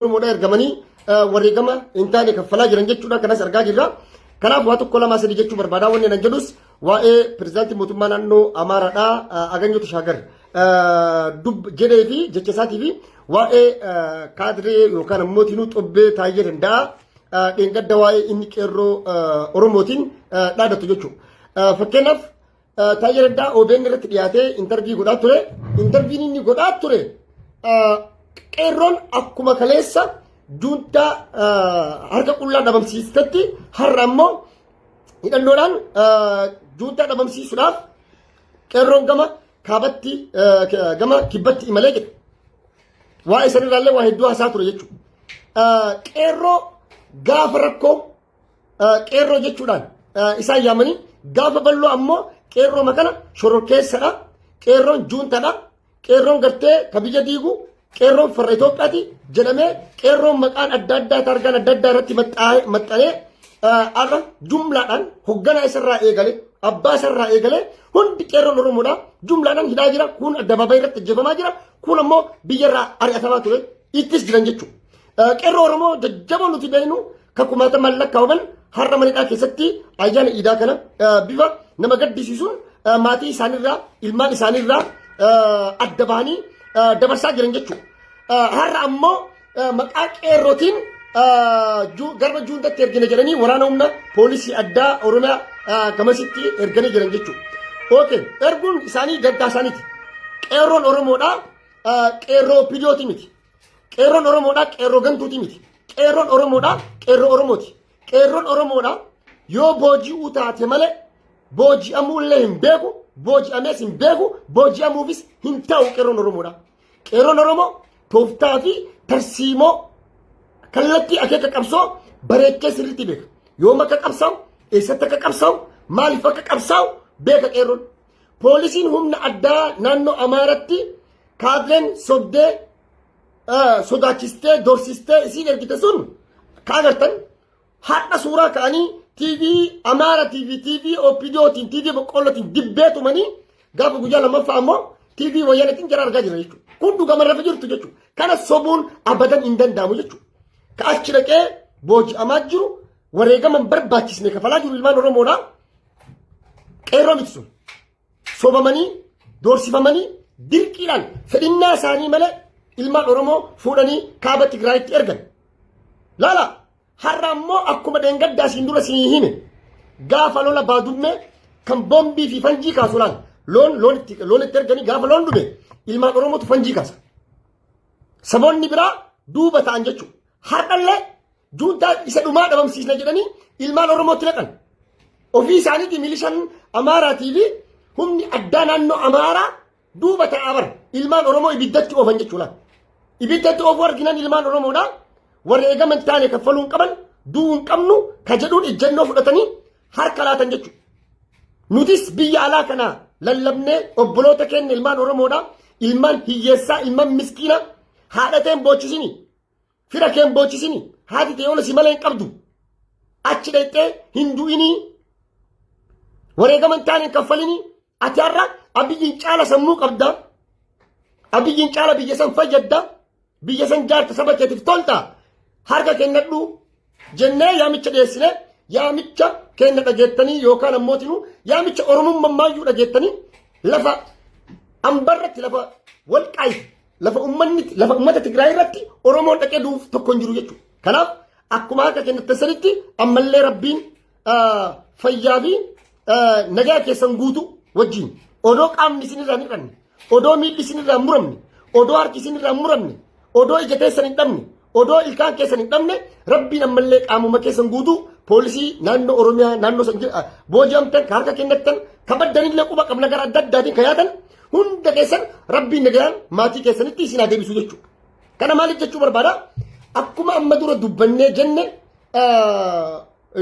Oromoodhaa ergamanii wareegama hin taane kaffalaa jiran jechuudha kanas argaa jirra. Kanaaf waa tokko lamaa sadii jechuu barbaada wanni nan jedhus waa'ee pirezidaantii mootummaa naannoo Amaaraadhaa Aganyoo Tashaagar dub jedhee fi jecha isaatii fi waa'ee kaadiree yookaan ammoo tiinuu xobbee taa'ee danda'a dheengadda waa'ee inni qeerroo Oromootiin dhaadatu jechuudha. Fakkeenyaaf Taayyee Raddaa OBN irratti dhiyaatee intarvii godhaa ture. Intarviin inni godhaa ture qeerroon akkuma kaleessa juuntaa harka qullaa dhabamsiistetti har'a ammoo hidhannoodhaan juuntaa dhabamsiisuudhaaf qeerroon gama kaabatti gama kibbatti imalee jedhe. Waa'ee sanirraallee waa hedduu haasaa ture jechuudha. Qeerroo gaafa rakkoo qeerroo jechuudhaan isaan yaamanii gaafa balloo ammoo qeerroo makana shororkeessadha qeerroon juuntadha qeerroon gartee ka biyya diigu qeerroon farra Itoophiyaati jedhamee qeerroon maqaan adda addaa taargaan adda addaa irratti maxxanee har'a jumlaadhaan hogganaa isarraa eegale abbaa isarraa eegale hundi qeerroon Oromoodha jumlaadhaan hidhaa jira kun addabaabaayii irratti ajjeefamaa jira kun ammoo biyyarraa ari'atamaa ture ittis jiran jechuudha. Qeerroo Oromoo jajjaboo nuti beeknu kan kumaata mallaqa qaban har'a manidhaa keessatti ayyaana iidaa kana bifa nama gaddisiisuun maatii isaaniirraa ilmaan isaaniirraa adda bahanii dabarsaa jiran jechuudha. Har'a ammoo maqaa qeerrootiin garba juuntatti ergina jedhanii waraana humna poolisii addaa Oromiyaa gamasitti erganii jiran jechuudha. Okay, erguun isaanii gaddaa isaaniiti. Qeerroon Oromoodhaa qeerroo pidiyooti miti. Qeerroon Oromoodhaa qeerroo gantuutii miti. Qeerroon Oromoodhaa qeerroo Oromooti. Qeerroon Oromoodhaa yoo booji'uu taate malee booji'amuu illee hin beeku, booji'amees hin beeku, booji'amuufis hin ta'u qeerroon Oromoodhaa. Qeerroon Oromoo tooftaa fi tarsiimoo kallattii akeeka qabsoo bareechee sirriitti beeka. Yoom akka qabsaa'u, eessatti akka qabsaa'u, maaliif akka qabsaa'u beeka qeerroon. Poolisiin humna addaa naannoo Amaaratti kaadreen sobdee sodaachistee dorsistee isiin ergite sun ka agartan har'a suuraa ka'anii TV Amaara TV TV OPDOtiin TV boqqollootiin dibbee tumanii gaafa guyyaa lammaffaa ammoo TV wayyanatiin jara argaa jira jechuudha. Kun dhugama lafa jirtu jechuudha. Kana sobuun abadan hin danda'amu jechuudha. Ka achi dhaqee booji'amaa jiru Wareegama hin barbaachisne kafalaa jiru ilmaan Oromoodha. Qeerroo miti sun. Sobamanii, doorsifamanii, dirqiidhaan fedhinnaa isaanii malee ilmaan Oromoo fuudhanii kaaba Tigraayitti ergan. Laala har'a ammoo akkuma dheengaddaa siin dura siin hime gaafa lola baadummee kan boombii fi fanjii kaasu laala. Loon loon itti loon itti erganii gaafa loon dhume ilmaan Oromootu fanjii kaasa. Saboonni biraa duuba ta'an jechuudha. Har'allee Juuntaa isa dhumaa dhabamsiisna jedhanii ilmaan Oromootti naqan. Ofii isaaniitii milishaan Amaaraatii fi humni addaa naannoo Amaaraa duuba ta'aa bara. Ilmaan Oromoo ibiddatti oofan jechuudha. Ibiddatti oofuu arginaan ilmaan Oromoodhaa warri eegaman taane kaffaluu hin qaban du'uu hin qabnu ka jedhuun ejjennoo fudhatanii harka laatan jechuudha. Nutis biyya alaa kana lallabnee obboloota keenya ilmaan Oromoodhaa ilmaan hiyyeessaa ilmaan miskiinaa haadhateen boochisinii. Fira keen boochisini haati tee yoona si malee hin qabdu. Achi dhayxee hin du'inii wareegama hin taane hin kaffalinii ati har'a abiyyiin caala sammuu qabda. Abiyyiin caala biyya san fayyadda. Biyya san jaarta saba keetiif tolta. Harka kennadhu jennee yaamicha dhiyeessine yaamicha kenna dhageettanii yookaan ammootinu yaamicha oromummaa maayyuu dhageettanii lafa ambarratti lafa walqaayi Lafa ummanni lafa ummata Tigraay irratti Oromoon dhaqee du'uuf tokko hin jiru jechuudha. Kanaaf akkuma harka kennatan sanitti ammallee rabbiin fayyaa fi nagaa keessan guutuu wajjin odoo qaamni isin irraa hin hir'anne odoo miilli isin irraa hin muramne odoo harki isin irraa hin muramne odoo ija teessan hin dhabne Odoo ilkaan keessan hin dhabne rabbiin ammallee qaamuma keessan guutuu poolisii naannoo Oromiyaa naannoo san jira booji'amtan ka harka kennattan ka baddanillee quba qabna gara adda addaatiin ka yaatan hunda keessan rabbiin nagaan maatii keessanitti isin haa deebisu jechuudha. Kana maaliif jechuu barbaada? Akkuma amma dura dubbannee jenne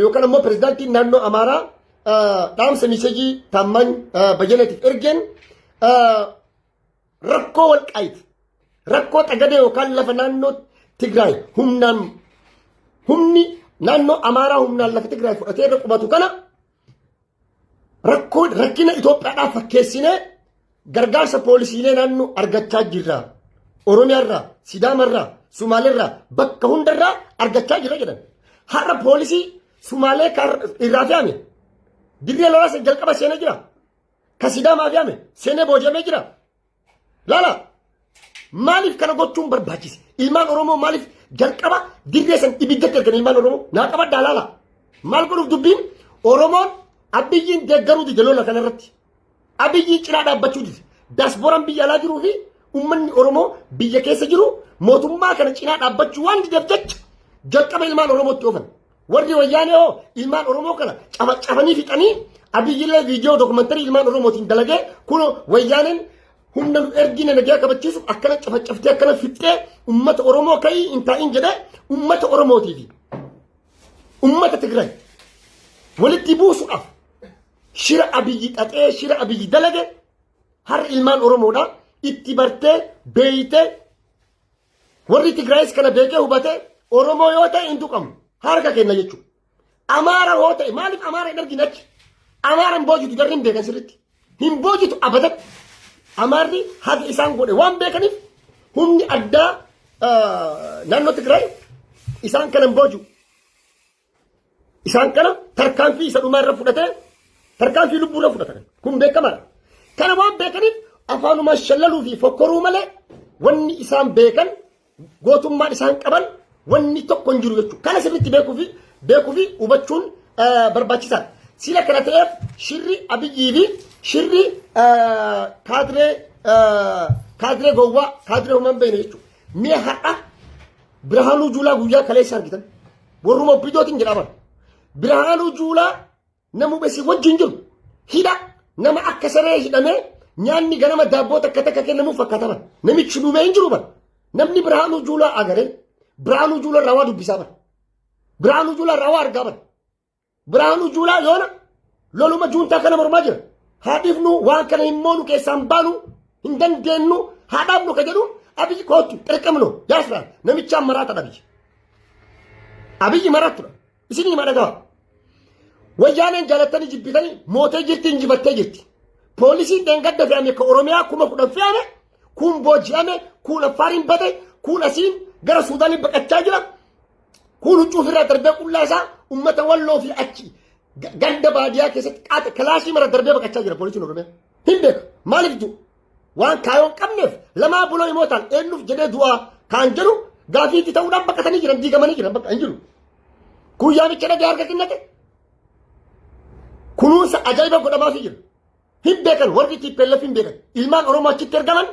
yookaan ammoo pirezidaantiin naannoo Amaaraa dhaamsa miseejii taammaan bayyanaatiif ergeen Rakkoo walqaayiti. Rakkoo xagadee yookaan lafa naannoo Tigraay humnaan humni naannoo Amaaraa humnaan lafa Tigraay fudhatee irra qubatu kana rakkoo rakkina Itoophiyaadhaaf fakkeessinee gargaarsa poolisiilee naannoo argachaa jirra. Oromiyaarraa, Sidaamarraa, Sumaaleerraa bakka hundarraa argachaa jirra jedhan. Har'a poolisii Sumaalee irraa fe'ame dirree lolaasa jalqaba seenee jira. ka sidaamaa fi ame seenee boojamee jira laala maaliif kana gochuun barbaachise ilmaan oromoo maaliif jalqaba dirree san ibiddatti ergan ilmaan oromoo naa qabaddaa laala maal godhuuf dubbiin oromoon abiyyiin deeggaruu dide lola kana irratti abiyyiin cinaa dhaabbachuu dide daasbooraan biyya alaa jiruu fi ummanni oromoo biyya keessa jiru mootummaa kana cinaa dhaabbachuu waan dideef jecha jalqaba ilmaan oromootti oofan Warri wayyaanee hoo ilmaan Oromoo kana cabanii fixanii abiyyillee viidiyoo dookumantarii ilmaan Oromootiin dalagee kun wayyaaneen humna nu ergina nagaa kabachiisuuf akkana cafacaftee akkana fixxee ummata Oromoo ka'ii hin taa'in jedhee ummata Oromootiifi ummata Tigraay walitti buusuudhaaf shira abiyyi xaxee shira abiyyi dalage har'a ilmaan Oromoodha itti bartee beeytee Warri Tigraayis kana beekee hubatee Oromoo yoo ta'e hin tuqamu. Harka kenna jechuudha. Amaara yoo ta'e maaliif Amaara hin argine achi? Amaara hin boojitu jarri hin beekan sirriitti. Hin boojitu abadan. Amaarri haga isaan godhe waan beekaniif humni addaa naannoo Tigraay isaan kana hin boojitu. Isaan kana tarkaanfii isa dhumaa irra fudhatee tarkaanfii lubbuu irra fudhatan. Kun beekamaadha. Kana waan beekaniif afaanuma shallaluu fi fokkoruu malee wanni isaan beekan gootummaan isaan qaban wanni tokko hin jiru jechuudha. Kana sirriitti beekuu fi beekuu fi hubachuun eh, barbaachisaadha. Sila kana ta'eef shirri abiyyii fi shirri eh, kaadiree eh, kaadiree gowwaa kaadiree humna hin beekne jechuudha. Mee har'a Birhaanuu Juulaa guyyaa kaleessa argitan. Warruma obbidootiin jedha bara. Birhaanuu Juulaa nama besi wajjin jiru hidha nama akka saree hidhamee nyaanni ganama daabboo takka takka kennamuuf fakkaata bara. Namichi dhumee hin jiru bara. Namni Birhaanuu Juulaa agaree Birhaanuu Juulaa irraa waa dubbisaa bara. Birhaanuu Juulaa irraa waa argaa bara. Biraanuu Juulaa yoona loluma juuntaa kana mormaa jira. Haa dhiifnu waan kana hin moonu keessaan baanu hin dandeenyu haa dhaabnu ka jedhu abiyyi kootu xirqamno yaasiraan namichaan maraata dhabiyyi. Abiyyi maraatudha. Isin hima dhaga'a. Wayyaaneen jaalattanii jibbitanii mootee jirti injifattee jirti. Poolisiin dheengadda fe'ame ka Oromiyaa kuma kudhan fe'ame kun booji'ame kun affaariin bate kun asiin gara Suudaaniin baqachaa jira. Kuun huccuu ofirraa darbee qullaa isaa uummata walloo fi achi ganda baadiyyaa keessatti qaata kilaasii mara darbee baqachaa jira poolisiin Oromiyaa. Hin beeka maaliif du'u? Waan kaayoo hin qabneef lamaa buloo himootaan eenyuuf jedhee du'aa kaan jedhu gaafii itti ta'uudhaan baqatanii jiran diigamanii jiran bakka hin jiru. Kun yaamicha dhagee harka kennate kunuunsa ajaa'iba godhamaafii jira. Hin beekan warri TPLF hin beekan ilmaan Oromoo achitti ergaman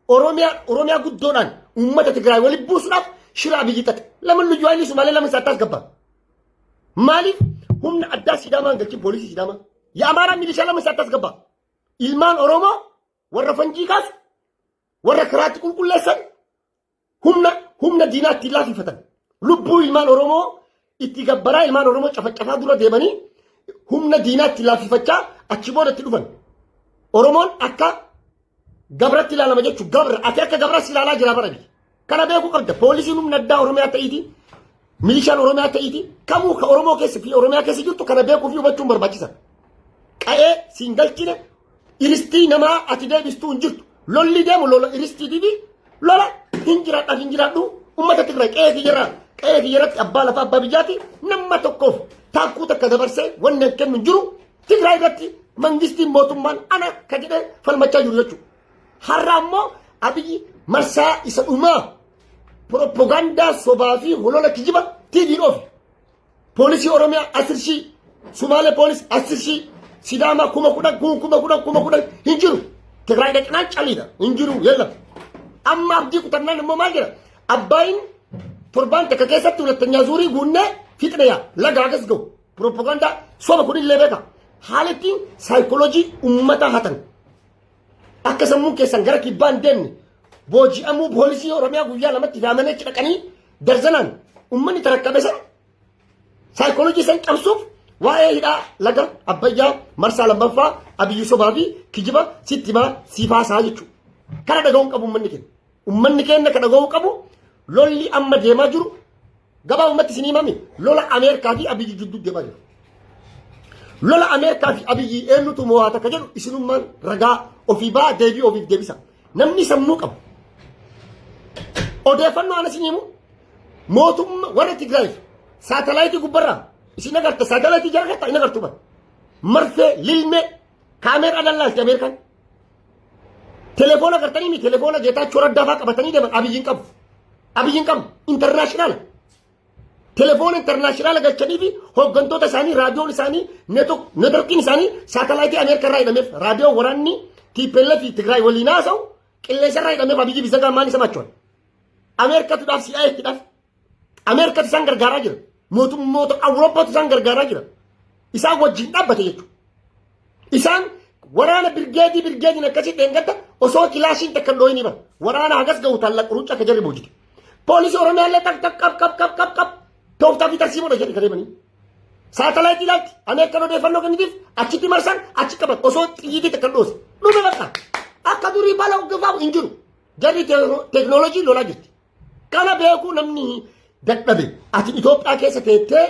Oromiyaa Oromiyaa guddoodhaan uummata Tigraay walitti buusuudhaaf shira abiyyi xaxe. Laman nuyyuu haayilii Sumaalee laman isaa taas gabbaa. Maaliif humna addaa Sidaamaan galchin poolisii Sidaamaa? Yaa Amaaraa milishaa laman isaa taas gabbaa. Ilmaan Oromoo warra fanjii kaasu warra karaatti qulqulleessan humna humna diinaa ittiin laafifatan lubbuu ilmaan Oromoo itti gabbaraa ilmaan Oromoo cafacafaa dura deemanii humna diinaa itti laafifachaa achi booda itti dhufan. Oromoon akka gabratti ilaalama jechuun gabra ati akka gabras ilaalaa jira bara biyya. Kana beekuu qabda poolisiin humna addaa Oromiyaa ta'iiti Milishaan Oromiyaa ta'iitii kamuu ka Oromoo keessa fi Oromiyaa keessa jirtu kana beekuu fi hubachuun barbaachisa. Qa'ee siin galchine iristii namaa ati deebistuu hin jirtu. Lolli deemu lola iristii fi lola hin jiraadha hin jiraadhu uummata Tigraay qa'ee fi jira qa'ee fi jiratti abbaa lafaa abbaa biyyaati nama tokkoof taakkuu takka dabarsee wanni hin kennu hin jiru Tigraay irratti mangistiin mootummaan ana ka jedhee falmachaa jiru jechuudha. Har'a ammoo abiyyi marsaa isa dhumaa Proppagandaa sobaa fi holola kijiba TV'n oofe. Poolisii Oromiyaa asir shii, Sumaalee poolis asir shii, Sidaamaa kuma kudhan, kun kuma kudhan, kuma kudhan hin jiru. Tigraay dhaqnaan caliidha hin jiru yalla. Amma abdii kutannaan immoo maal jira? Abbaayin torbaan takka keessatti hulattanyaa zuurii guunnee fixne yaa laga agas ga'u. Proppagandaa soba kun illee beeka. Haalittiin saayikooloojii uummataa hatan. Akka sammuun keessan gara kibbaa hin deemne booji'amuu poolisii Oromiyaa guyyaa lamatti yaamanii achi dhaqanii darzanaan uummanni tarakkame sana saayikoolojii san cabsuuf waa'ee hidhaa laga abbayyaa marsaa lammaffaa abiyyuu sobaa fi kijiba sitti himaa siifaasaa jechuudha. Kana dhaga'uun qabu uummanni keenya. Ummanni keenya ka dhaga'uu qabu lolli amma deemaa jiru gabaabumatti isin himami lola Ameerikaa fi Abiyyi jidduu deemaa jiru. Lola Ameerikaa fi Abiyyi eenyutu moo'aa takka jedhu isinummaan ragaa ofii ba'aa deebii ofiif deebisa. Namni sammuu qabu. Odeeffannoo ana isin himu mootummaa warra Tigraay saatalaayitii gubbarraa isin agarta saatalaayitii jara keessaa hin agartu bara. Marfee, lilmee, kaameeraa dallaalti Ameerikaan. Telefoona agartanii mi telefoona geetaachoo raddaafaa qabatanii deeman abiyyiin qabu. Abiyyiin qabu intarnaashinaala. Telefoona intarnaashinaala galchanii fi hooggantoota isaanii raadiyoon isaanii neetworkiin isaanii saatalaayitii Ameerikaa irraa hidhameef raadiyoon waraanni TPLF fi Tigraay waliin haasa'u qilleensa irraa hidhameef abiyyi bisagaa maal isa machoon. Ameerikaatu dhaaf si'aa itti dhaaf Ameerikatti isaan gargaaraa jira. Mootummoota Awurooppaatti isaan gargaaraa jira. Isaan wajjin dhaabbate jechuudha. Isaan waraana birgeedii birgeediin akkasii dheengadda osoo kilaashiin takka hin dhooyinii bara. Waraana hagas ga'u taalla qurucha akka jarri boojite. Poolisii Oromiyaa illee tak tak qab qab qab qab qab tooftaa fi tarsiimoodha jedhe kadeemanii. Saatalaayitii ilaalti Ameerikaan odeeffannoo kennitiif achitti marsan achi qaban osoo xiyyiitii takka hin dhoose. Dhume bakka akka durii bala uggifaamu hin jiru. Jarri teeknooloojii lolaa jirti. Kana beekuu namni dadhabe ati Itoophiyaa keessa teettee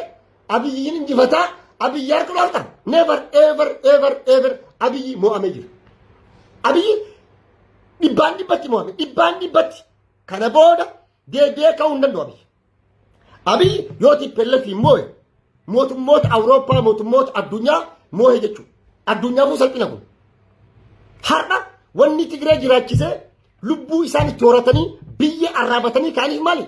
abiyyiin injifataa abiyyi harka dhorkan never ever ever ever abiyyi mo'amee jira. Abiyyi dhibbaan dhibbatti mo'ame dhibbaan dhibbatti kana booda deebi'ee ka'uu hin danda'u abiyyi. Abiyyi yoo tippellefi moo'e mootummoota Awurooppaa mootummoota addunyaa moo'e jechuudha. Addunyaafuu salphina kun. Har'a wanni Tigree jiraachisee Lubbuu isaan itti horatanii biyya arraabatanii ka'aniif maali?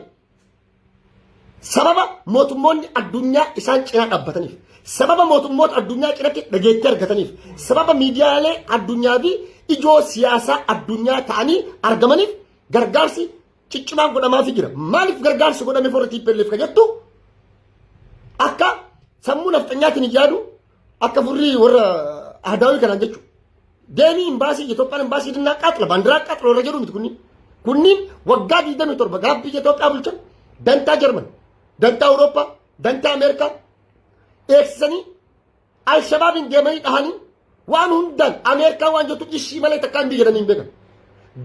Sababa mootummoonni addunyaa isaan cinaa dhaabbataniif. Sababa mootummoota addunyaa cinatti dhageettii argataniif. Sababa miidiyaalee addunyaa fi ijoo siyaasaa addunyaa ta'anii argamaniif gargaarsi ciccimaan godhamaaf jira. Maaliif gargaarsi godhame forra TPLF ka jettu akka sammuu nafxanyaatiin hin yaadu Akka furrii warra ahdaawii kanaan jechuudha. Deemii imbaasii Itoophiyaan imbaasii dinnaa qaaxila baandiraa qaaxila warra jedhu miti kunniin. Kunniin waggaa 27 gaaf biyya Itoophiyaa bulchan dantaa Jarman, dantaa Awurooppaa, dantaa Ameerikaa eegsisanii Alshabaabiin deemanii dhahanii waan hundaan Ameerikaa waan jettu ishii malee takkaa hin biyya jedhanii hin beekan.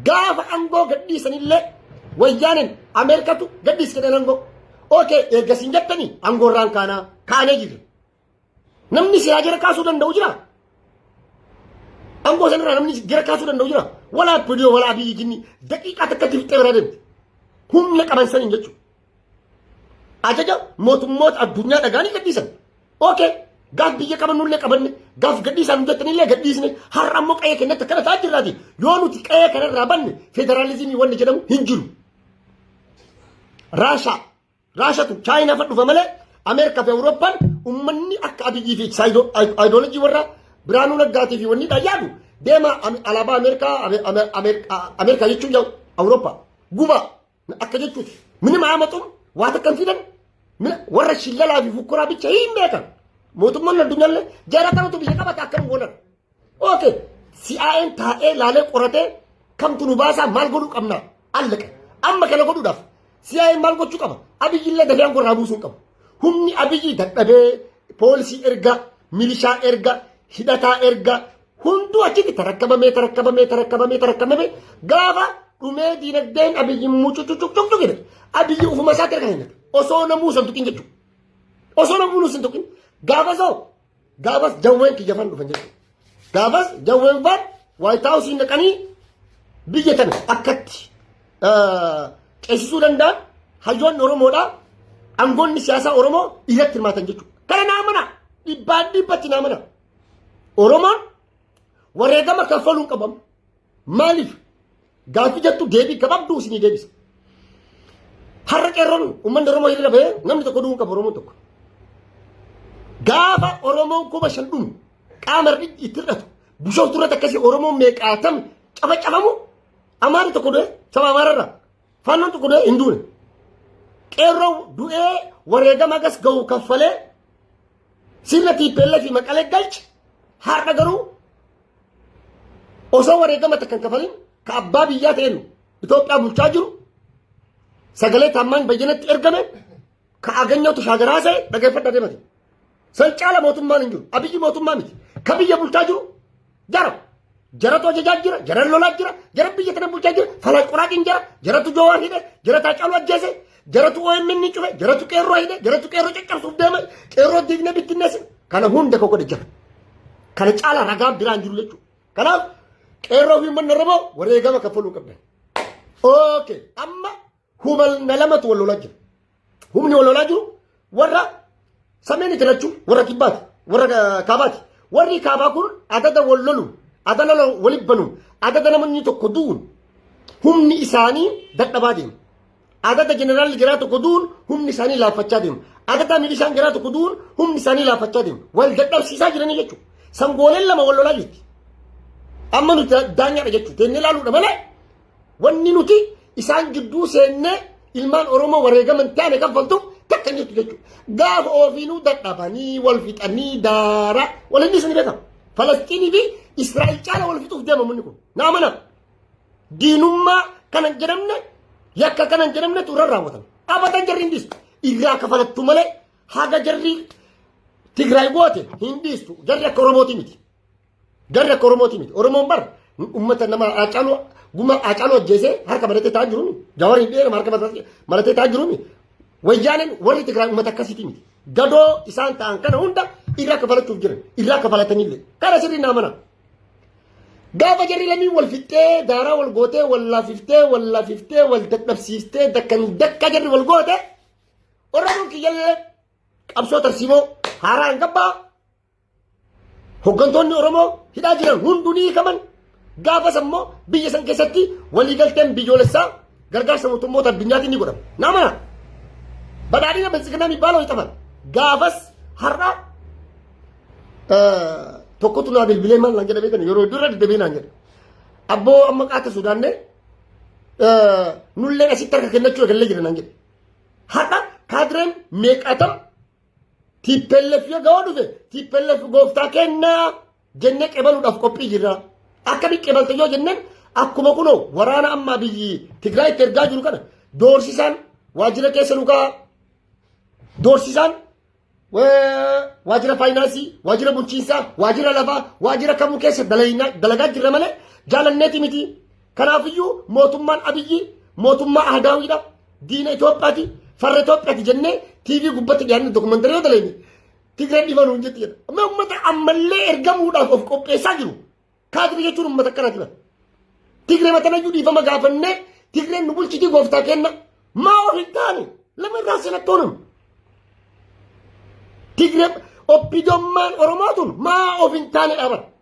Gaafa aangoo gadhiisanillee wayyaaneen Ameerikatu gadhiis jedhan aangoo. Ookee eeggasiin jettanii aangoorraan kaanaa kaanee jirra. Namni silaa jara kaasuu danda'u jira. Angoo sanarraa namni jara kaasuu danda'u jira. Walaa Pidiyoo walaa biyyi jinni daqiiqaa takkatti fixee biraa deemti. Humna qaban saniin jechuudha. Ajaja mootummoota addunyaa dhagaanii gadhiisan. Ookee gaaf biyya qabannullee qabanne gaaf gadhiisaan hojjetanillee gadhiisne har'a ammoo qa'ee kennatti akkana ta'aa jirraati. Yoo nuti qa'ee kanarraa banne federaalizimii wanni jedhamu hin jiru. Raashaa. Raashatu Chaayinaa fa dhufa malee Ameerikaa fi Awurooppaan ummanni akka Abiyyii fi Saayidoolojii warra Biraanuu Naggaatii fi wanni dhaan yaadu deema alaabaa Ameerikaa Ameerikaa jechuun yaa'u Awurooppaa guba akka jechuuti. Mini maamaxuun waa takka hin fidan warra shillalaa fi fukkuraa bicha hin beekan. Mootummaan addunyaallee jara kanatu biyya qabata akkam goonan. ኦኬ ሲአይኤን taa'ee laalee qoratee kamtu nu baasaa maal godhuu qabna allaqa amma kana godhuudhaaf si'aayin maal gochuu qaba abiyyillee dafee aangoo irraa buusuu hin qabu humni abiyyi dadhabee poolisii erga milishaa erga hidhataa erga hunduu achitti tarakkabamee tarakkabamee tarakkabamee tarakkabamee gaafa dhumee diinagdeen abiyyi mucucucucucu jedhe abiyyi ufuma isaatti erga kennate osoo namuu san tuqin jechuudha osoo namuu san tuqin gaafa soo Gaafas jawween kiyya fan dhufan jechuudha. Gaafas jawween fan Waayit Haawusiin dhaqanii biyya tana akkatti ceesisuu danda'an hayyoonni Oromoodha. Angoonni siyaasaa Oromoo irratti hirmaatan jechuudha. Kana naa mana dhibbaan dhibbatti naa mana. Oromoon wareegama kaffaluun qabamu. Maaliif? Gaaffii jettu deebii gabaabduu isinii deebisa. Har'a qeerroon uummanni Oromoo hiriira bahee namni tokko du'uu hin qabu Oromoon tokko. Gaafa Oromoon kuma shan dhumu qaama irratti itti hir'atu bishooftu irratti akkasii Oromoon meeqaatam caba cabamu amaarri tokko du'e saba amaararraa faannoon tokko du'e hin duune. Qeerroo du'ee wareegama gas gahu kaffalee sirna tiippeellee fi maqalee galche har'a garuu osoo wareegama takka hin kafalin ka abbaa biyyaa ta'een Itoophiyaa bulchaa jiru sagalee taammaan bayyanatti ergame ka aganyoo tashaagaraa ta'e dhageeffadha deemate. San caala mootummaan hin jiru. Abiyyi mootummaa miti. Ka biyya bulchaa jiru jara. Jaratu ajajaa jira, jaran lolaa jira, jaran biyya tana bulchaa jira, falan qoraatiin jira, jaratu joowaar hidhe, jarataa caaluu ajjeese, Jaratu OMN ni cufe, jaratu qeerroo hidhe, jaratu qeerroo caccabsuuf deema, qeerroo diigne bittinneessin. Kana hunda koo godhe jira. Kana caalaa ragaan biraan jiru jechuudha. Kanaaf qeerroo fi uummanni Oromoo wareegama kaffaluu qabdan. Okay, amma humna lamatu wal lolaa jira. Humni wal lolaa jiru Warra sameen itti lachuu warra kibbaati warra eh, kaabaati. Warri kaabaa kun adada wal lolu ada lola walitti banu adada namni tokko du'uun humni isaanii dadhabaa deema. Adada jeneraalli garaa tokko du'uun humni isaanii laaffachaa deema. Adada milishaan garaa tokko du'uun humni isaanii laaffachaa deema. Wal dadhabsiisaa jiranii jechuudha. Sangooleen lama wal lolaa jirti. Amma nuti daanyaadha jechuudha. Teennee ilaaluudha malee Wanni nuti isaan gidduu seennee ilmaan Oromoo wareegaman taane kaffaltuuf takka hin jirtu jechuudha. Gaafa ofiinuu dadhabanii wal fixanii daara wal inni isin beekama. Falasxiinii fi Israa'el caala wal fixuuf deema munni kun. Naa mana diinummaa kanan jedhamne yakka kanan jedhamne turre raawwatame. Abatan jarri hin dhiistu. Irraa kafalattu malee haga jarri Tigraay goote hin dhiistu. Jarri akka Oromootii miti. Garri akka Oromooti miti. Oromoon bar uummata nama Haacaaluu guma Haacaaluu ajjeesee harka maratee taa'aa jiru miti. Jawariin dhiyeera harka maratee taa'aa jiru miti. Wayyaaneen warri Tigraay uummata akkasiiti miti. Gadoo isaan ta'an kana hunda irraa kafalachuuf jiran. Irraa kafalatanillee. Kana sirrii naa mana. Gaafa jarri lamii wal fixxee, daaraa wal gootee, wal laafiftee, wal laafiftee, wal dadhabsiiftee, dakkan dakka jarri wal goote, Oromoon kiyyallee qabsoo tarsiimoo haaraa hin gabbaa Hoggantoonni Oromoo hidhaa jiran hunduu ni hiikaman. Gaafas ammoo biyya san keessatti waliigalteen biyyoolessaa gargaarsa mootummoota addunyaatiin ni godhama. Nama badhaadhina bilchiginaa mibbaa loo hixaman. Gaafas har'a tokkotu naa bilbilee maal naan jedhamee kan yeroo dura deddeebiin naan jedhe. Abboo amma qaata Sudaannee nulleen asitti harka kennachuu eegallee jira naan jedhe. Har'a kaadireen meeqaatam Tiippellef yoo ga'oo dhufe tiippellef gooftaa kennaa jennee qebaluudhaaf qophii jirra. Akkamitti qebalte yoo jenneen akkuma kunoo waraana ammaa biyyi Tigraayitti ergaa jiru kana doorsisaan waajjira keessa nu ka'a. Doorsisaan waajjira faayinaansii, waajjira bulchiinsaa, waajjira lafaa, waajjira kamuu keessa dalagaa jirra malee jaalanneeti miti. Kanaafiyyuu mootummaan Abiyyi mootummaa Ahadaawiidha. Diina Itoophiyaati. Farra Itoophiyaati jennee TV gubbatti dhiyaanne dokumentari yoo daleenye Tigreen dhiba nuun jetti jedha. Amma uummata ammallee ergamuudhaaf of qopheessaa jiru. Kaatiri jechuun uummata akkanaati bara. Tigree matanayyuu dhiifama gaafannee Tigreen nu bulchitii gooftaa kenna. Maa of hin taane lama irraa seenattoo nama. Tigree oppidommaan Oromoo tun maa of hin taane dhaabata.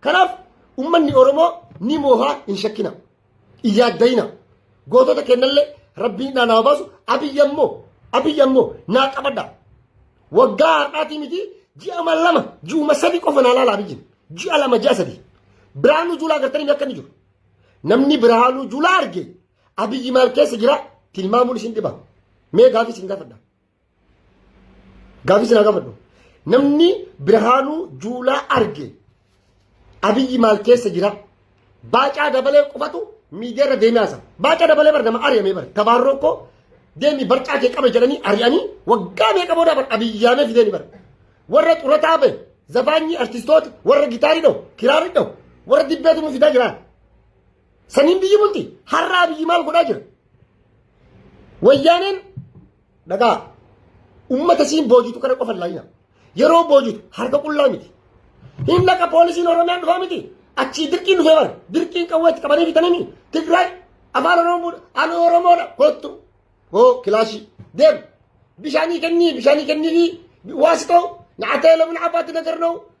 Kanaaf ummanni Oromoo ni moohaa hin shakkina. Hin yaaddayina. Gootota kennallee rabbiin naa naa baasu abiyyi ammoo abiyyi ammoo naa qabadha. Waggaa har'aatii miti ji'a ma lama ji'uma sadi qofa naa laala abiyyiin. Ji'a lama ji'a sadi. Biraanuu Juulaa gartanii akka inni jiru. Namni Biraanuu Juulaa arge abiyyi maal keessa jira tilmaamuun isin dhiba. Mee gaafii isin gaafadha. Gaafii sinaa gaafadhu. Namni Birhaanuu Juulaa arge Abiyyi maal keessa jira? Baacaa dabalee qofatu miidiyaa irra deemee haasa. Baacaa dabalee bar nama ari'amee bar. Tabaarroo koo deemi barcaa kee qabe jedhanii ari'anii waggaa meeqa booda bar abiyyaamee fideen bar. Warra xurataa bahe zafaanyii artistoota warra gitaarii dhahu kiraarii dhahu warra dibbee tumuu fidaa jira. Saniin biyyi bulti har'a abiyyi maal godhaa jira? Wayyaaneen Dhagaa uummata siin boojitu kana qofa laayina. Yeroo boojitu harka qullaa miti. Hin dhaqa poolisiin Oromiyaan dhufaa miti. Achii dirqiin dhufee bara. Dirqiin qawwee itti qabanii bitanii Tigraay afaan Oromoo ani Oromoodha kottu. Hoo kilaashii deem bishaanii kennii bishaanii kennii waasi ta'u nyaatee lamun abaatti nagar na'u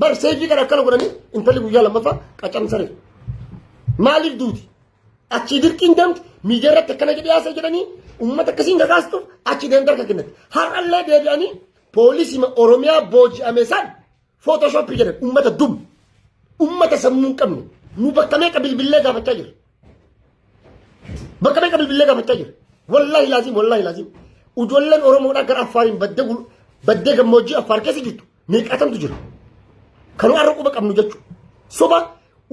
Bar seejii kana akkana godhanii intalli guyyaa lammaffaa qacaramte saree. Maaliif duuti? Achii dirqiin deemti miidiyaa irratti akkana jedhee haasa'e jedhanii uummata akkasiin kakaastuuf achi deemte harka kennatti. Har'allee deebi'anii poolisii Oromiyaa booji'ame san footoshoppii jedhan uummata dum. Uummata sammuu hin qabne. Nu bakka meeqa bilbillee gaafachaa jira. Bakka meeqa bilbillee gaafachaa jira. Wallaahi laaziim wallaahi laaziim. Ijoolleen Oromoodhaa gara Affaariin baddee gul- baddee gammoojjii Affaar keessa jirtu. meeqaatamtu jira. Kan har'a quba qabnu jechuudha. Soba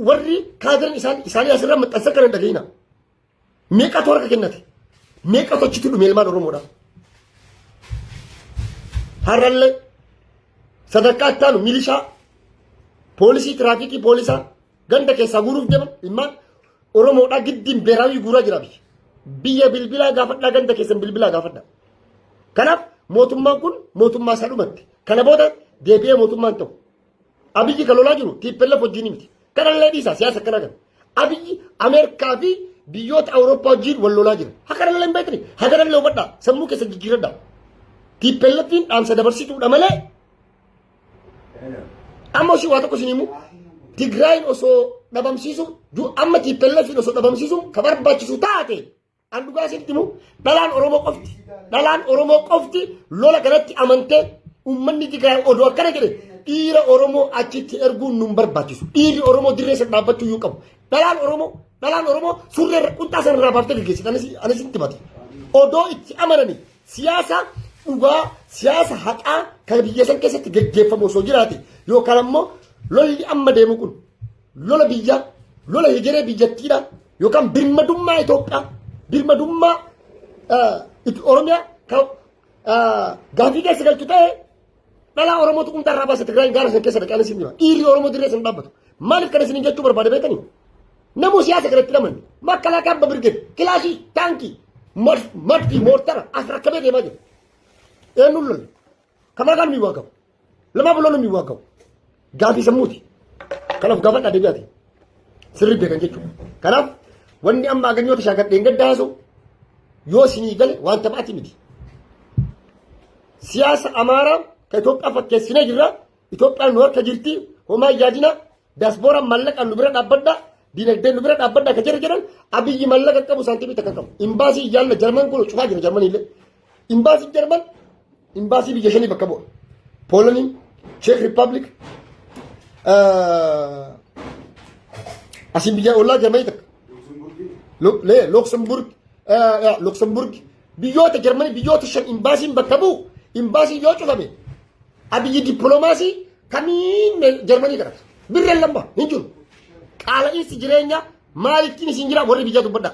warri kaadirin isaan isaanii asirra maxxansa kana hin dhaga'ina. Meeqatu harka kennate? Meeqatu achitti dhume ilmaan Oromoodha? Har'allee sadarkaa itti aanu milishaa, poolisii tiraafikii poolisaa, Ganda keessaa guuruuf deema ilmaan Oromoodhaa giddiin beeraawii guuraa jira biyya. Biyya bilbilaa gaafadhaa ganda keessan bilbilaa gaafadhaa. Kanaaf mootummaan kun mootummaa isaa dhumatti. Kana booda deebi'ee mootummaan ta'u. Abiyyi kan lolaa jiru tiippellaf wajjin miti. Kanallee dhiisaa siyaasa akkana kana. Abiyyi Ameerikaa fi biyyoota Awurooppaa wajjin wal lolaa jira. Hakanallee hin beekne. Hakanallee hubadhaa. Sammuu keessa jijjiiradhaa. Tiippellaffiin dhaamsa dabarsituudha malee Amma osoo waa tokko isin himu Tigraayin osoo dhabamsiisuun du- amma tiippelleefiin osoo dhabamsiisuun ka barbaachisu taate an dhugaa isinitti himu dhalaan Oromoo qofti dhalaan Oromoo qofti lola kanatti amantee uummanni Tigraay odoo akkana jedhe dhiira Oromoo achitti erguun nun barbaachisu dhiirri Oromoo dirree sana dhaabbachuu iyyuu qabu dhalaan Oromoo dhalaan Oromoo surree irra- qunxaa sana irraa baaftee gaggeessite anis anis itti himate odoo itti amananii Siyaasa dhugaa, siyaasa haqaa kan biyya san keessatti gaggeeffamu osoo jiraate yookaan ammoo lolli amma deemu kun lola biyyaa, lola hegeree biyyattiidha yookaan birmadummaa Itoophiyaa, birmadummaa Oromiyaa kan gaafii keessa galchu ta'e Dhalaa Oromoo tuqumtaa irraa baasa Tigraayin gaara san keessa dhaqee siin jira. Dhiirri Oromoo dirree san dhaabbatu. Maaliif kana isin jechuu barbaade beektanii? Namuu siyaasa kanatti lamanne. Makalaakaa abba birgeen kilaashii taankii madfii moortara as rakkabee deemaa jira. Eenyuun lolle? Kamaa kan miiwaa qabu. Lamaa buloon miiwaa qabu. Gaafii sammuuti. Kanaaf gaafadhaa deebi'aati. Sirrii beekan jechuudha. Kanaaf wanni amma aganyoota shaakadheen gadda haasa'u yoo sinii gale waan taphaati miti. Siyaasa Amaaraa ka Itoophiyaa fakkeessinee jirra. Itoophiyaan nu harka jirti. Homaa yaadina. Daasboora mallaqa nu bira dhaabbadha. Dinagdeen nu bira dhaabbadha ka jedhan jedhan abiyyi mallaqa qabu saantimii takka qabu. Imbaasii yaalla jarman kun cufaa jira jarmaniillee. Imbaasiin Jarman imbaasii biyya shanii bakka bu'a. Poolanii, Cheek Rippaabilik, asiin biyya ollaa Jarmanii takka. Luxemburg, Luxemburg biyyoota Jarmanii biyyoota shan imbaasiin bakka bu'u imbaasiin yoo cufame abiyyi dippiloomaasii kamiin Jarmanii kadhata. Birreen lama hin jiru. Qaala'iinsi jireenyaa maalittiin isin jira warri biyya dubbadhaa.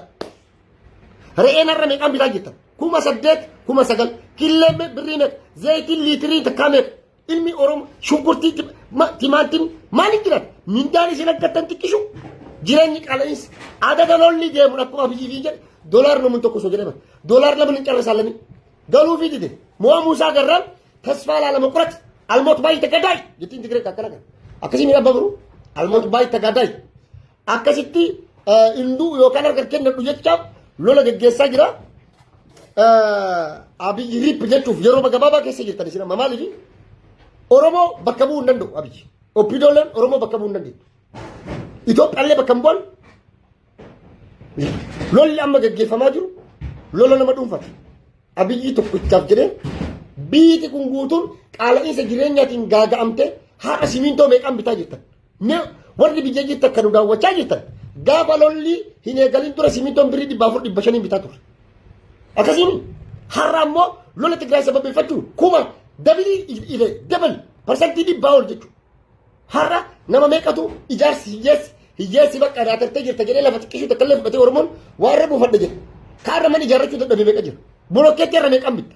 Re'een har'a meeqaan bitaa jirtan? Kuma saddeet, kuma sagal. Killeen birrii meeqa? Zayitiin liitirii takkaa meeqa? Ilmi Oromoo shunkurtii timaatiin maaliin jiraata? Mindaan isin argattan xiqqishu. Jireenyi qaala'insa. Adada lolli deemu akkuma biyyi fi jedhe doolaar namoonni tokko osoo jedhama. Doolaar lama hin carra saalanii. Galuu fi dide. Mo'aa Muusaa Garraan tasfaa laalama qorate. Almoot baay'ee tagadaayi. Jettiin Tigiree akkana kan. Akkasii miidhaa babaruu. Almoot baay'ee tagadaayi. akkasitti hinduu yookaan harka kennadhu jechaaf lola geggeessaa jira. Abiyyi riip jechuuf yeroo gabaabaa keessa jirtan isin amma maaliif Oromoo bakka bu'uu hin danda'u Abiyyi. Oppidoolleen Oromoo bakka bu'uu hin danda'u. Itoophiyaallee bakka hin bu'an. Lolli amma geggeeffamaa jiru lola nama dhuunfate. Abiyyi tokkichaaf jedhee biiti kun guutuun qaala'iinsa jireenyaatiin gaaga'amtee haadha simintoo meeqaan bitaa jirtan. Mee warri biyya jirtan kan nu daawwachaa jirtan gaafa lolli hin eegalin dura simintoon birrii dhibba afur dhibba shaniin bitaa ture. Akkasiin har'a ammoo lola Tigraay sababeeffachuun kuma dabilii ile dabal parsantii dhibbaa ol jechuudha. Har'a nama meeqatu ijaarsi hiyyeessi hiyyeessi bakka irraa tartee jirta jedhee lafa xiqqishuu takka illee fudhatee Oromoon waarra buufadha jedha. Kaarra mana ijaarrachuu dadhabee meeqa jira. Bolokkeetti irra meeqaan bitta.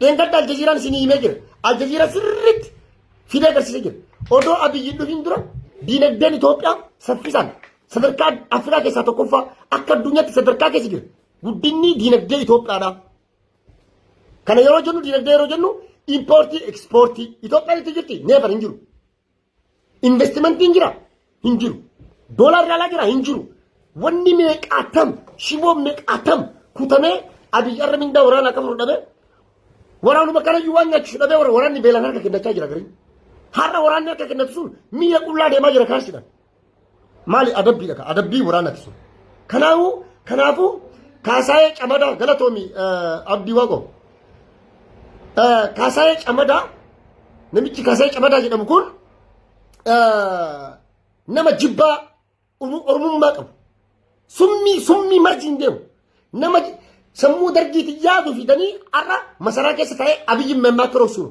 Dheengadda Aljaziiraan isinii himee jira. Aljaziiraa sirriitti fidee agarsiisee jira. Odoo Abiyyi hin dhufiin dura diinagdeen Itoophiyaa saffisaan sadarkaa Afrikaa keessaa tokkoffaa akka addunyaatti sadarkaa keessa jira. Guddinni diinagdee Itoophiyaadha. Kana yeroo jennu diinagdee yeroo jennu impoortii ekspoortii Itoophiyaan itti jirti neefar hin jiru. Investimentiin jira hin jiru. Doolaarri alaa jira hin jiru. Wanni meeqaatam shiboon meeqaatam kutamee Abiy Arra mindaa waraanaa qabu dhabee waraanuma kanayyuu waan nyaachisu dhabee waraanni beelaan harka kennachaa jira gariin. Har'a waraanni harka kennatu sun mi'a qullaa deemaa jira kaarsidhaan. Maali adabbiidha ka adabbii waraanati sun. Kanaafu kanaafu kaasaayee camadaa galatoomi abdii waaqo. Kaasaayee camadaa namichi kaasaayee camadaa jedhamu kun nama jibbaa oromummaa qabu. Summii summii marjiin deemu. Nama sammuu dargiitiin yaadu fidanii har'a masaraa keessa taa'ee abiyyi mammaa kiroofsuun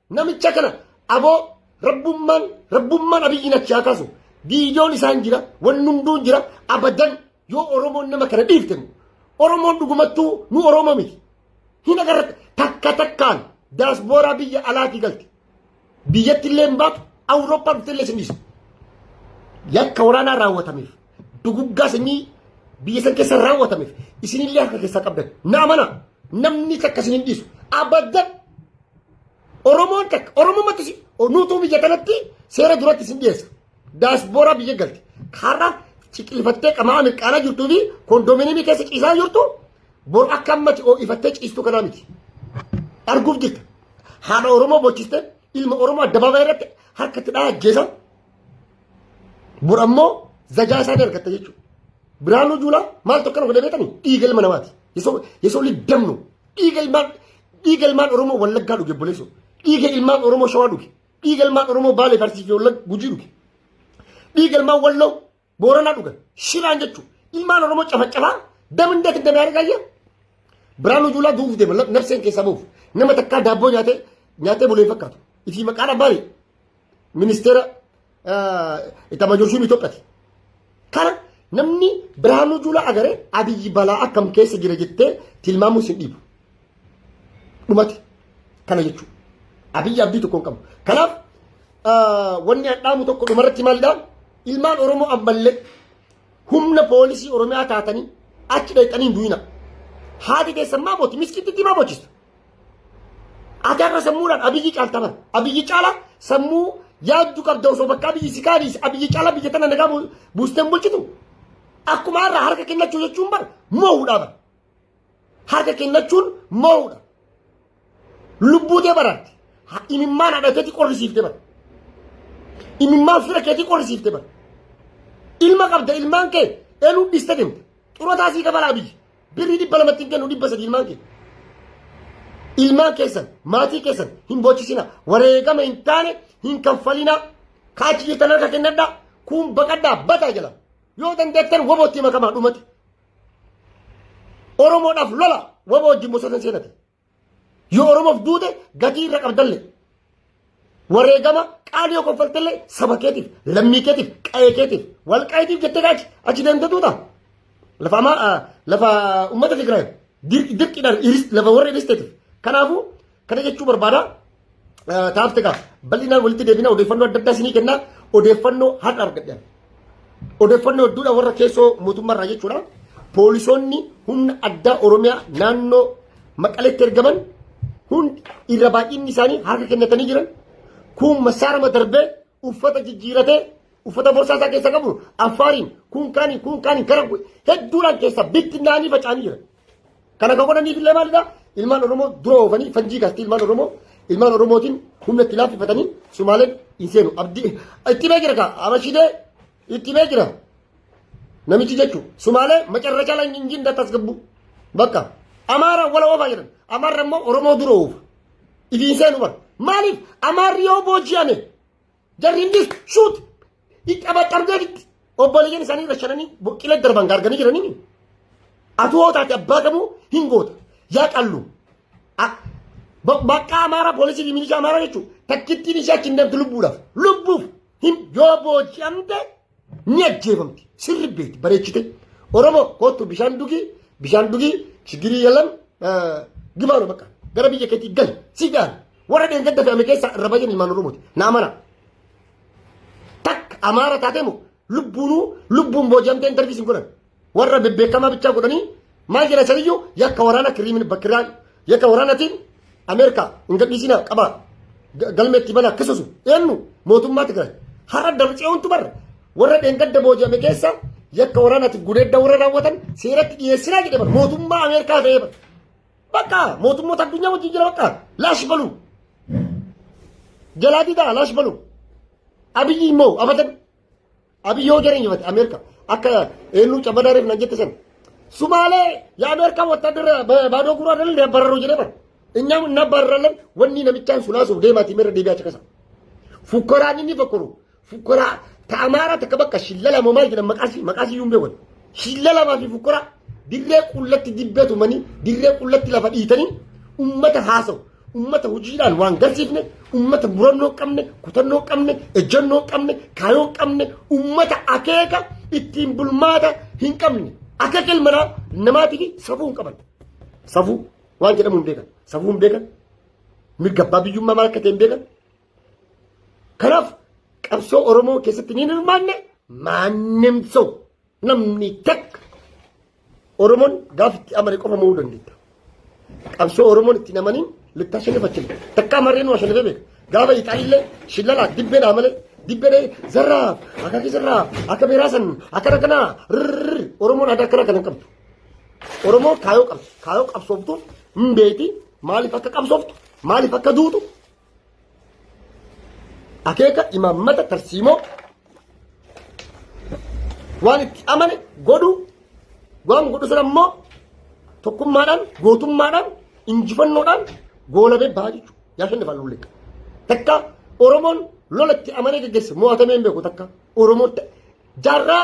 Namicha kana aboo rabbummaan rabbummaan abiyyiin achi haa kaasu. Viidiyoon isaan jira, wanni hunduu jira, abadan yoo Oromoon nama kana dhiifte immoo. Oromoon dhugumattuu nu Oromoo miti. Hin agarra takka takkaan daasbooraa biyya alaatii galte. Biyyatti illee hin baatu, Awurooppaa dhufte illee sin dhiisu. Yakka waraanaa raawwatameef. Duguggaa sanyii biyya san keessa raawwatameef isinillee harka keessaa qabdan. Na amana namni takka isin hin dhiisu. Abaddan Oromoon takka Oromumatti si nuutuu biyya kanatti seera duratti isin dhiyeessa. Daasbooraa biyya galti. Har'a ciqilfattee qamaa mirqaanaa jirtuu fi kondominiimii keessa ciisaa jirtu bor akka ammati oo'ifattee ciistuu kanaa miti. Arguuf jirta. Haadha Oromoo bochiste ilma Oromoo addabaabaayii irratti harkatti dhaa ajjeesaa. Bor ammoo zajaa isaa dargatta jechuudha. Biraanuu Juulaa maal tokko kana godhee beekanii dhiiga ilma namaati. Yesoo liddam nu dhiiga ilmaan dhiiga ilmaan Oromoo Wallaggaa dhuge boleessoo dhiiga ilmaan Oromoo Shawaa dhuge dhiiga ilmaan Oromoo Baalee Farsii fi Wallagga Gujii dhuge dhiiga ilmaan Walloo Booranaa dhugan shiraan jechuun ilmaan Oromoo cafacafaa damindee kan damee argaa jira. Biraanuu Juulaa du'uuf deema nafseen keessaa bahuuf nama takkaa daabboo nyaatee nyaatee bulee hin fakkaatu. Ifi maqaan abbaan ministeera itamajoorshuun Itoophiyaati. Kana namni Biraanuu Juulaa agaree Abiyyi balaa akkam keessa jira jettee tilmaamuus hin dhiibu. Dhumate. Kana jechuudha. Abiyyi abdii tokko hin qabu. Kanaaf wanni hadhaamu tokko dhumarratti maalidhaa? Ilmaan Oromoo ammallee humna poolisii Oromiyaa taatanii achi dhaqanii hin du'ina. Haati keessan maa booti? Miskiititti maa boochistu? Ati har'a sammuudhaan abiyyi caalta bara. Abiyyi caala sammuu yaaddu qabda osoo bakka abiyyi si kaaniis abiyyi caala biyya tana nagaa buusteen bulchitu. Akkuma har'a harka kennachuu jechuun bara moo'uudhaa bara. harka kennachuun mo'uudha. Lubbuu tee baraarti. Ha- Imimmaan haadha keetii qorrisiifte bara. Imimmaan fira keetii qorrisiifte bara. Ilma qabda ilmaan kee eluu dhiste deemta. Xurataa sii kabalaa biyyi. Birrii dhibba lamatti hin kennu dhibba sadii ilmaan kee. Ilmaan keessan maatii keessan hin boochisina. Wareegama hin taane hin kanfalina. Kaachi jirtan harka kennadhaa. Kun baqadhaa bataa jala. Yoo dandeettan wabootti makamaa dhumate. Oromoodhaaf lola waboo wajjin bosona seenate. Yoo Oromoof duute gatii irra qabdalle. Wareegama qaali yoo koffaltelle saba keetiif, lammii keetiif, qa'ee keetiif, wal qaayitiif jettee gaachi achi deemte duuta. Lafa amaa lafa uummata Tigraay dirqiidhaan lafa warra dhiisteetiif. Kanaafuu kana jechuu barbaada. taartika bal'inaan walitti deebina odeeffannoo adda addaa isinii kenna odeeffannoo har'a argadhan odeeffannoo hedduudha warra keessoo mootummaarraa jechuudha poolisoonni humna addaa oromiyaa naannoo maqaleetti ergaman hundi irra baay'inni isaanii harka kennatanii jiran kun masaarama darbee uffata jijjiiratee uffata borsaa isaa keessa qabu affaariin kun kaaniin kun kaaniin kara hedduudhaan keessa bittinnaanii faca'anii jiran Kana kan godhaniif illee maalidha? Ilmaan Oromoo dura oofanii fanjii kaastii ilmaan Oromoo ilmaan Oromootiin humna itti laaffifatanii Sumaaleen hin seenu. Abdii itti bee jira kaa Abashidee itti bee jira. Namichi jechuun Sumaalee macarrachaa lan jinjiin dattaas gabbu. Bakka Amaara wala oofaa jedhan. Amaarri immoo Oromoo dura oofa. Ifiin seenu bara. Maaliif Amaarri yoo booji'ame Jarri innis shuut ixxabaxxabdee fitti. Obboleeyyan isaanii irra shananii boqqila darban gaarganii jiranii. Atu hoo taate abbaa qabuu hin goota. Yaa qallu. Bakka amaaraa poolisii fi milishaa amaaraa jechuun takkittiin ishee achi hin deemtu lubbuudhaaf. Lubbuuf hin yoo booji'amte ni ajjeefamti sirri beekti bareechite oromoo kootu bishaan dugii bishaan dugii shigirii yalan gibaanu bakka gara biyya keetii gali si gaana warra dheengadda fe'ame keessaa irra baay'een ilmaan oromooti naa mana takka amaara taatee moo lubbuunuu lubbuun booji'amtee intarviisiin godhan warra bebbeekamaa bichaa godhanii maal jedha isaniyyuu yakka waraana kiriimin bakkiraa yakka waraanatiin Ameerikaa hin gadhiisina qaba galmeetti bana akkasusu eenyu mootummaa Tigraay har'a darbitsiyoontu barra warra dheengadda booji'ame keessa yakka waraanaatiif gudeedda warra raawwatan seeratti dhiyeessinaa jedhe bara mootummaa Ameerikaa ta'ee bara bakka mootummoota addunyaa wajjin jira bakka laash balu jalaa didaa laash balu abiyyi immoo abadan Abiy yoo jara injifate Ameerika akka eenyu cabbadaa reef nan jette sana. Sumaalee yaa Ameerika wattaadara baadoo guuraa dhalan ni abbararoo jedhee bara. Inyaa na barralan wanni namichaan sulaasuuf deemaatii meerra deebi'aa caqasa. Fukkaraan inni fakkaru fukkaraa ta Amaaraa takka bakka shillala moo maal jedhan maqaasii maqaasii yuun beekan. Shillalamaa fi fukkaraa dirree qullatti dibbee tumanii dirree qullatti lafa dhiitanii ummata haasawu. Ummata hojiidhaan waan garsiifne, ummata murannoo qabne, kutannoo qabne, ejjennoo qabne, kaayoo qabne, ummata akeeka ittiin bulmaata hin qabne. Akka kilmanaa namaatiif safuu hin qaban. Safuu waan jedhamu hin beekan. Safuu hin beekan. Mirga abbaa biyyummaa maal akka ta'e hin beekan. Kanaaf qabsoo Oromoo keessatti ni hirmaanne maannim ta'u. Namni takka Oromoon gaafa itti amane qofa mo'uu dandeetta. Qabsoo Oromoon itti namaniin littaa shanifachiin takka amarreen waa shanifee beeka. Gaafa Ixaalillee shillalaa dibbeedhaa malee dibbeedhee zarraa akka kee zarraa akka beeraa san akka rakkanaa rrrr Oromoon aadaa akkana kana hin qabdu. Oromoo kaayoo qabdi. Kaayoo qabsooftuuf hin beekti maaliif akka qabsooftu maaliif akka duutu Akeeka imaammata tarsiimoo waan itti amane godhu waan godhu sana immoo tokkummaadhaan gootummaadhaan injifannoodhaan goolabee bahaa jechuudha. Yaa shan lafaan lullee. Takka Oromoon lola itti amanee geggeesse mo'atamee hin beeku takka Oromoo jaarraa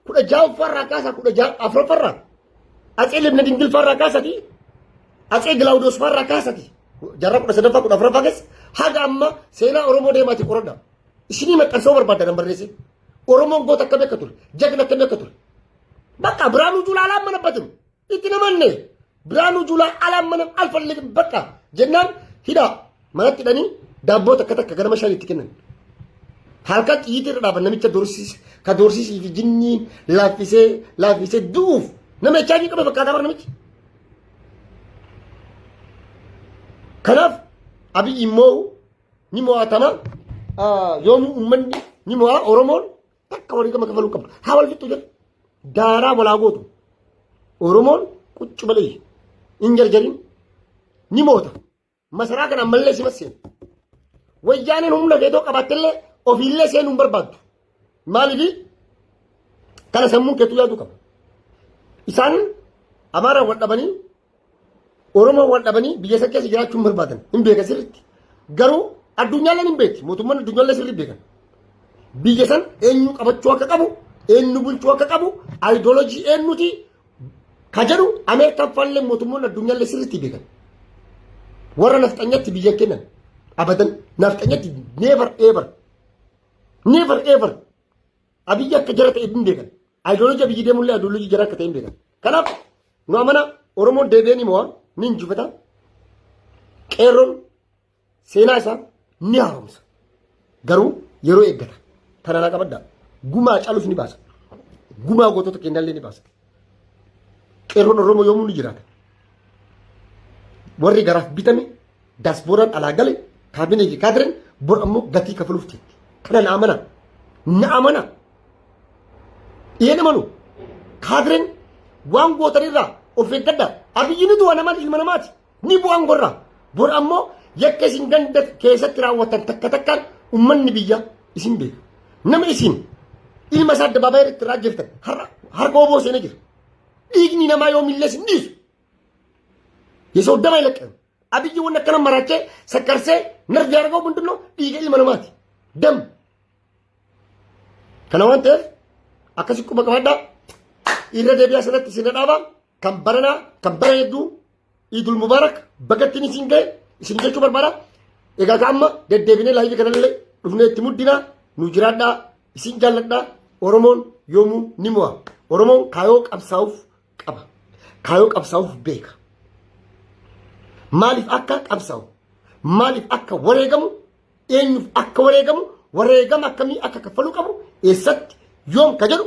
kudha ja'affaarraa kaasaa kudha ja'a afuraffaarraa atsee libna dingilfaarraa kaasati atsee gilaawudoosfaarraa kaasati jarra kudha sadaffaa kudha afuraffaa keessa haga amma seenaa oromoo deemaati qoradha isinii maxxansoo barbaadda nan barreessin oromoon goota akkami akka ture jagna akkami akka ture bakka biraanuu juulaalaa mana batiru Itti namanne Biraanuu Juulaa alaan mana alfallee bakka jennaan hidhaa manatti hidhanii daabboo takka takka ganama shan itti kennan. Halkan xiyyiitii irra dhaaban namicha doorsiise ka doorsisii fi jinniin laaffisee laaffisee du'uuf nama HIV qabe fakkaataa bara namichi. Kanaaf abiyyi immoo ni mo'atama yoomuu uummanni ni mo'a Oromoon Takka walii gama kafaluu qabdu. Haa wal fixxu jedhu. Daaraa walaa gootu. Oromoon quccu malee hin jarjarin ni moota. Masaraa kana ammallee si masseen. Wayyaaneen humna keetoo qabaattellee ofiillee seenuu hin barbaaddu. Maaliif kana sammuun keetuu yaaduu qaba. Isaan amaaraan wal dhabanii Oromoon wal dhabanii biyya san keessa jiraachuu hin barbaadan. Hin beekan sirriitti. Garuu addunyaalleen hin beekti. Mootummaan addunyaallee sirrii beekan. Biyya san eenyu qabachuu akka qabu, eenyu bulchuu akka qabu, ayidoolojii eenyuti ka jedhu Ameerikaan faallee mootummoonni addunyaallee sirriitti beekan. Warra nafxanyatti biyya kennan abadan nafxanyatti never ever never ever abiyyi akka jara ta'e hin beekan. Ideology biyyi deemullee ideology jara akka ta'e hin beekan. Kanaaf nu amana Oromoon deebi'ee ni mo'a ni injifata. Qeerroon seenaa isaa ni haaromsa. Garuu yeroo eeggata. Tana naa qabadda. Gumaa calus ni baasa. Gumaa gootota keenyallee ni baasa. Qeerroon Oromoo yoomuu ni jiraata. Warri garaaf bitame daasbooraan alaa gale kaabinee fi kaadireen bor ammoo gatii kafaluuf jirti. Kana na amana. Na amana. Yeen amanu kaadirin waan gootanirraa of eeggadha. Abiyyi ni du'a nama ilma namaati. Ni bu'aan gorra. Bor ammoo yakka isin ganda keessatti raawwatan takka takkaan ummanni biyya isin beeka. Nama isin ilma isaa addabaabaa irratti irraa jirtan harka oboo seenee jira. Dhiigni namaa yoo millees hin dhiisu. Yesoo dama ilaqqan. Abiyyi waan akkana maraachee sakkarsee narvi argoo bundullo dhiiga ilma namaati. Dam. Kana waan ta'eef akkasi quba qabadhaa irra deebi'aa sanatti isin dhadhaabaa kan baranaa kan bara hedduu Idul Mubaarak bagattiin isin ga'e isin jechuu barbaada. Egaa ka amma deddeebinee laayivii kanallee dhufnee itti muddinaa nu jiraadhaa isin jaalladhaa Oromoon yoomuu ni mo'a. Oromoon kaayoo qabsaa'uuf qaba. Kaayoo qabsaa'uuf beeka. Maaliif akka qabsaa'u maaliif akka wareegamu eenyuuf akka wareegamu wareegama akkamii akka kaffaluu qabu eessatti yoom ka jedhu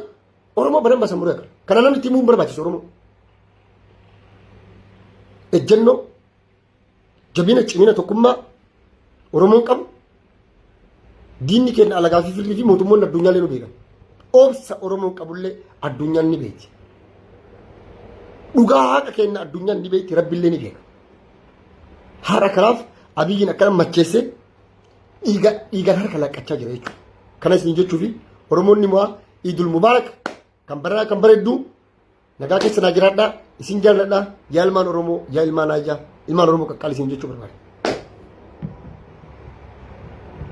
Oromoo badan basan muree kana namni timuun barbaachisu Oromoo. Ejjennoo jabina cimina tokkummaa Oromoon qabu diinni keenya alagaa fi firrii fi mootummoonni addunyaa illee nu beekan. Obsa Oromoon qabullee addunyaan ni beekti. Dhugaa haqa keenya addunyaan ni beekti rabbi illee ni beeka. Haadha kanaaf abiyyiin akkana macheessee dhiiga dhiigaan harka laqqachaa jira jechuudha. Kana isin jechuufi Oromoonni mo'aa Iidul Mubaarak kan baranaa kan bareedduu nagaa keessa naa jiraadhaa isin jaalladhaa yaa ilmaan Oromoo yaa ilmaan Aayyaa ilmaan Oromoo qaqqaali isin jechuu barbaada.